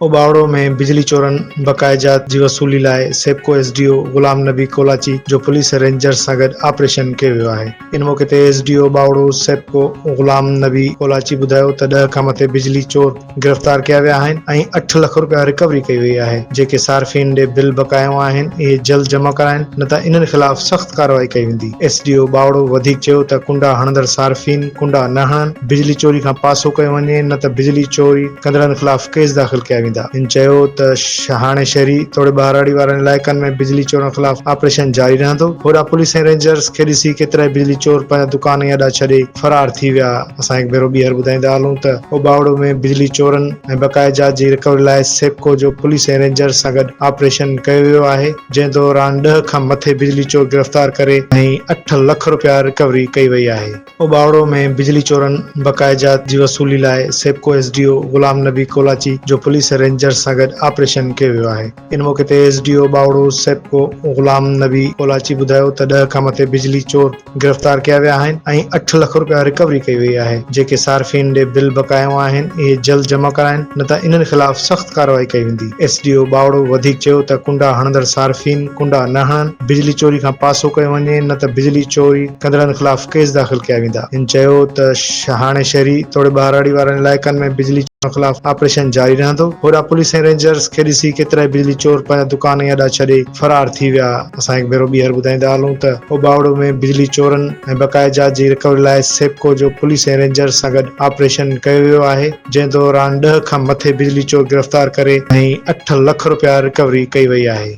اوٻاوڙو ۾ بجلي چورن بقاياجات جي وصولي لاء SEPCO S D O Ghulam Nabi Kolachi جو پوليس رينجرز سان گڏ آپريشن ڪيو ويو آهي ان موقعي تي S D O ٻاوڙو SEPCO Ghulam Nabi Kolachi ٻڌايو ته ڏهه کان مٿي بجلي چور گرفتار ڪيا ويا آهن ۽ اٺ لک رپيا رڪوري ڪئي وئي آهي جيڪي صارفين ڏي بل بقايو آهن اهي جلد جمع ڪرائين نه ته انهن خلاف سخت ڪارروائي ڪئي ويندي ايس ڊي او ٻاوڙو وڌيڪ چيو ته ڪنڊا هڻندڙ صارفين ڪنڊا نه هڻن بجلي چوري کان پاسو ڪيو وڃي نه ته بجلي چوري ڪندڙن خلاف ڪيس داخل ڪيا ويندا. هن چيو ته شاهاڻي شهري توڙي ٻهراڙي وارن علائقن ۾ بجلي چورن خلاف آپريشن جاري رهندو، هوڏانهن پوليس ۽ رينجرز کي ڏسي ڪيترائي بجلي چور پنهنجا دڪان ۽ اڏا ڇڏي فرار ٿي ويا، اسان هڪ ڀيرو ٻيهر ٻڌائيندا هلون ته اوٻاوڙو ۾ بجلي چورن ۽ بقايا جات جي رڪوري لاء سيپڪو جو پوليس ۽ رينجرز سان گڏ آپريشن ڪيو ويو آهي جنهن دوران ڏهه کان مٿي بجلي چور گرفتار ڪري ۽ اٺ لک رپيا رڪوري ڪئي وئي آهي. اوٻاوڙو ۾ بجلي چورن بقاياجات جي وصولي لاء SEPCO S D O Ghulam Nabi Kolachi جو پوليس ۽ رينجرز سان گڏ آپريشن ڪيو ويو آهي. ان موقعي تي S D O ٻاوڙو SEPCO Ghulam Nabi Kolachi ٻڌايو ته ڏهه کان مٿي بجلي چور گرفتار ڪيا ويا آهن ۽ اٺ لک رپيا رڪوري ڪئي وئي آهي جيڪي صارفين ڏي بل بقايائون آهن اهي جلد جمع ڪرائن نه ته انهن خلاف سخت ڪارروائي ڪئي ويندي. ايس ڊي او ٻاوڙو وڌيڪ چيو ته ڪنڊا هڻندڙ صارفين ڪنڊا نه هڻن، بجلي چوري کان پاسو ڪيو وڃي نه ته بجلي چوري ڪندڙن خلاف ڪيس داخل ڪيا ويندا. هن چيو ته شاهاڻي شهري توڙي ٻهراڙي وارن علائقن ۾ بجلي چورن خلاف آپريشن جاري رهندو، هوڏا پوليس ۽ رينجرز کي ڏسي ڪيترائي بجلي چور پنهنجا دڪان ۽ اڏا ڇڏي فرار ٿي ويا، اسان هڪ ڀيرو ٻيهر ٻڌائيندا هلون ته او ٻاوڙو ۾ بجلي چورن ۽ بقايا جات جي رڪوري لاء سيپڪو جو پوليس ۽ رينجرز سان گڏ آپريشن ڪيو ويو آهي. جنهن دوران ڏهه کان مٿي بجلي چور گرفتار ڪري ۽ اٺ لک رپيا رڪوري ڪئي وئي آهي.